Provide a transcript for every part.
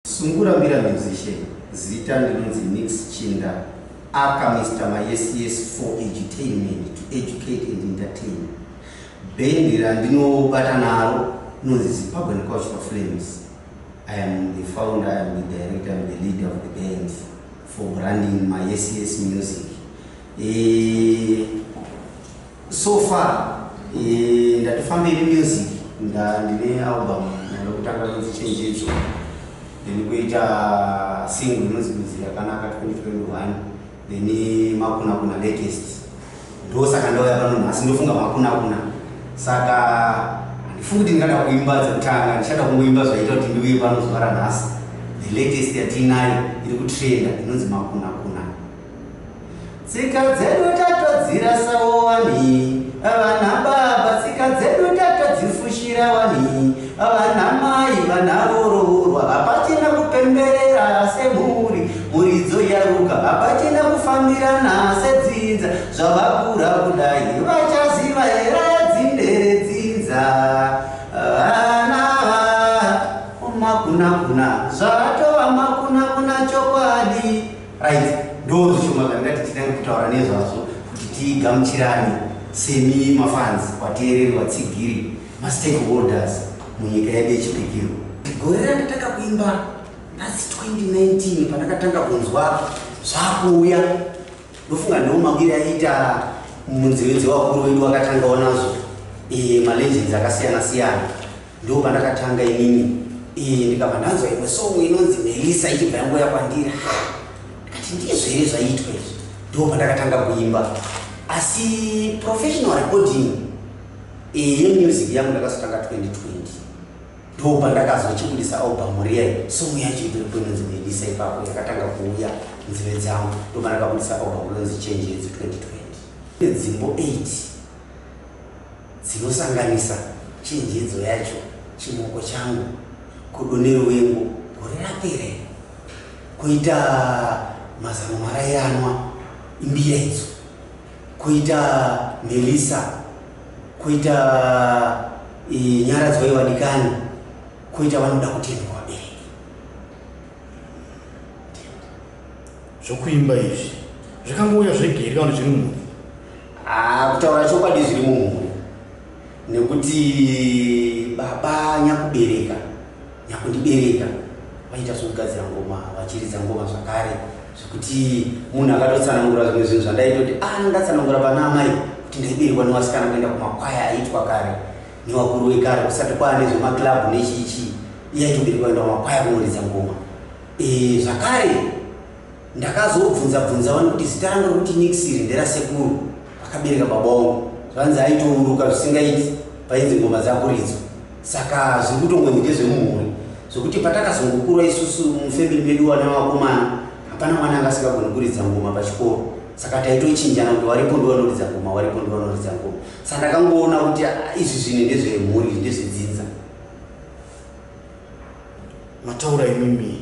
Sungura Mbira Musician Zita ndinonzi Nix Chinda aka Mister Mayes Yes for Edutainment to educate and entertain Band randinobata naro nonzi Zimbabwean Cultural Flames I am the founder, I am the director, I am the leader of the band for branding Mayes Yes Music e So far eh, ndatofambei nemusic ndine album ndoda kutanga kunzi chenjedzo then kuita single inonzi kuzi yakanaka 2021 then makunakuna latest ndo saka ndauya pano nhasi ndofunga makunakuna saka handifungi kuti ndingada kuimba dzekutanga ndichada kungoimba zvaita kuti ndiuye pano zuva ranhasi the latest yatiinayo iri kutrenda inonzi makunakuna Tsika dzedu tatodzira sawo wani vana baba tsika dzedu tatodzifushira wani vana mai vana voroorwa hapachina kupemberera semhuri muridzo yaruka hapachina kufambirana sedzinza zvavakura kudai vachaziva here dzindere dzinza vana makunakuna zvatova makunakuna chokwadi Right, ndozvishoma zvandati titange kutaura nezvazvo kuti tigamuchirane semi mafans wateereri watsigiri mastakeholders munyika yedu yechipikiro. Gore randatanga kuimba that's 2019 pandakatanga kunzwa zvakuuya ndofunga ndiwo mawiri aiita munziwe dzewakuru wedu wakatangawo nazvo eh, malegends akasiyana siyana Ndoo pandakatanga inini iyi ndikabva ndanzwa imwe song inonzi Melissa ichibva yangoya kwandiri ndikati ndizvo here zvaiitwa izvi ndoo pandakatanga kuimba asi professional recording iyi yemusic yangu ndakazotanga 2020 ndoo pandakazochibudisa album riya song yacho iripo inonzi Melissa ipapo yakatanga kuuya nzive dzangu ndoo pandakabudisa album rinonzi Change Yedu 2020 nedzimbo 8 dzinosanganisa chinjedzo yacho, chimoko changu, godo neruvengo gore rapera iri, koita mazano marairanwa imbira idzo, koita Melissa, koita e, Nyaradzwai vadikani, koita vanoda kutendwa vabereki. Zvokuimba izvi zvakangouya zvega here kana zviri mhuri? Ah, kutaura chokwadi zviri mumhuri nekuti baba nyakubereka nyakundibereka vaita zvekugadzira ngoma vachiridza ngoma zvakare zvekuti munhu akatotsanangura zvimwe zvinhu zvandaitoti ah ndatsanangura pana amai kuti ndaiberekwa newasikana kuenda kumakwaya aitwa kare newakuru wekare kusati kwaane zvemaclub nechiichii iye aitoberekwa kuenda kumakwaya kunoridza ngoma Eh, zvakare ndakazobvunza bvunza vanhu kuti zita rangu rokuti Nixiri nderasekuru akabereka baba wangu. Zvanzi aitouruka zvisingaiti painzi ngoma dzakuridzwa. Saka zviri kutongonzi ndezvemumhuri zvokuti patakazongokura isusu mufemili medu wana vakomana hapana mwana anga asingagoni kuridza ngoma pachikoro saka taitochinjana kuti waripo ndiwanoridza ngoma waripo ndiwanoridza ngoma saka ndakangoona kuti ah, izvi zvinhu ndezvemhuri izvi ndezvedzinza mataura imimi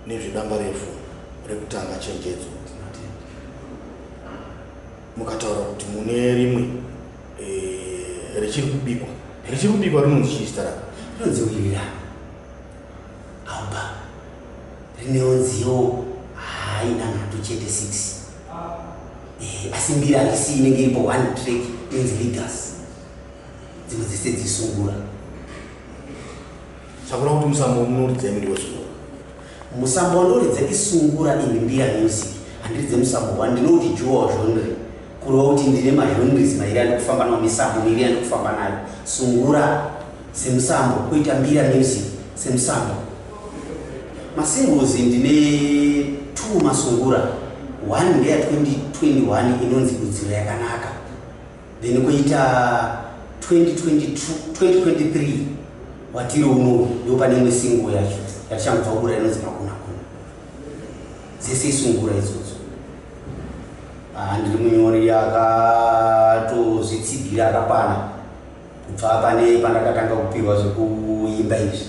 nezvedamba refu rekutanga chenjedzo mukataura kuti mune rimwe eh, richiri kubikwa richiri kubikwa rinonzi chii zita rako rinonzi wilira auba rinewo nziyo haina nhatu chete six eh, asi mbiri harisi inenge iripo one track inzi leaders dzimwe dzese dzisungura sakura kuti musambo munoridza imi ndiwesungura musambo wanoridza isungura ini mbira music handiridze musambo wa ndinoti juwa zhonre kureva kuti ndine mazhonres mairi ane kufamba nawo misambo miri ane kufamba nayo sungura semusambo kuita mbira music semusambo masingozi ndine two masungura one ndeya 2021 inonzi kudziro yakanaka then koita 2023 watiri uno ndo pane imwe singo yacho yatichangobva kubura inonzi makuna kuna dzese isungura idzodzo ah, ndiri munyori akatozitsigira akakwana kubva pane pandakatanga kupiwa zvekuimba izvi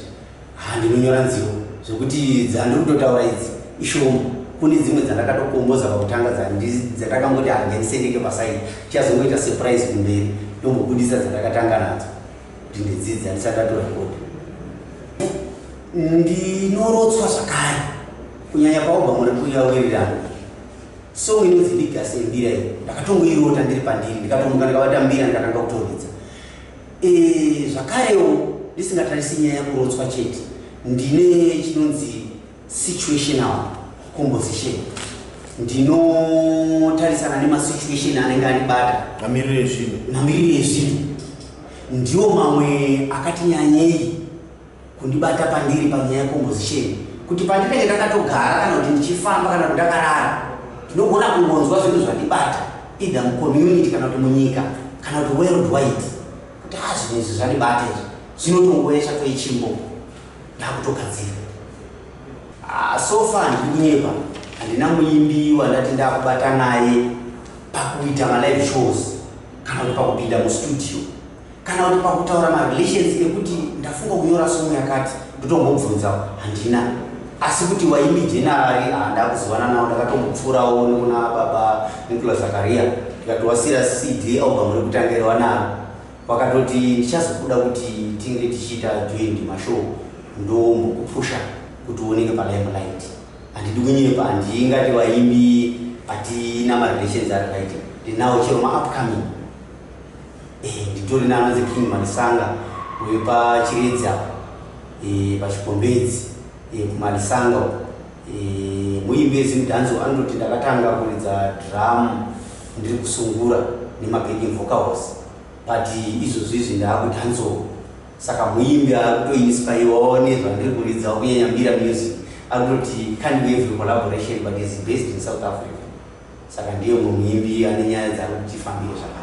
Haa ndinonyora nziyo zvekuti dzandiri kutotaura idzi ishoma. Kune dzimwe dzandakatokomboza pakutanga dzandakangoti haa ndisendeke paside tichazongoita surprise kumberi ndombobudisa dzandakatanga nadzo kuti ndidzidza ndisati ndatora record. Ndinorotswa zvakare kunyanya paobva muri kuuya wirirana song inonzi ndigase mbira iyi ndakatongoirota ndiri pandiri ndikatomuka ndikabata mbira ndikatanga kutoridza E, zvakarewo ndisingatarisi nyaya yakurotswa chete ndine chinonzi situational composition ndinotarisana nemasituation anenge anibata mamiriro ezvinhu mamiriro ezvinhu ndiwo mamwe akati nyanyei Kundibata pandiri panyaya yecompozisheni kuti pandinenge ndakatogara kana kuti ndichifamba kana kuti ndakarara ndinogona kungonzwa zvinhu zvandibata either mucommunity kana kuti munyika kana kuti world wide kuti ha zvinhu izvi zvandibata izvi zvinotongoesha toichimbo ndakutogadzira ah, sofa ndiri kunyepa handina muimbi wandati ndakubata naye pakuita malive shows kana kuti pakupinda mustudio Kana kuti pakutaura marelations ekuti ndafunga kunyora somu yakati ndotombobvunzawo handina asi kuti waimijenari handakuzivana nawo ndakatombopfuurawo nekuna baba nikula zakaria ndikatowasira cd album rekutangira wanaro wakatoti ndichazokuda kuti tinge tichiita joint mashow ndombokupusha kuti uoneke palimelight handidi kunyepa handingati vaimbi hatina marelations ari right ndinawo chero maupcoming Eh, nditori nana the king malisanga uye pachiredzi apa eh, pachikombedzi eh, kumalisanga uko eh, muimbi ezimudhanzo anototi ndakatanga kuridza drum ndiri kusungura nemabacking vocals but izvozvi izvi ndaakudhanzoo saka muimbi akutoinspaiwawo nezvandiri kuridza kunyanya mira music akutoti can't be every collaboration but is based in south africa saka ndiye mumwe muimbi ane nyaya dzaari kutifambire zvakanaka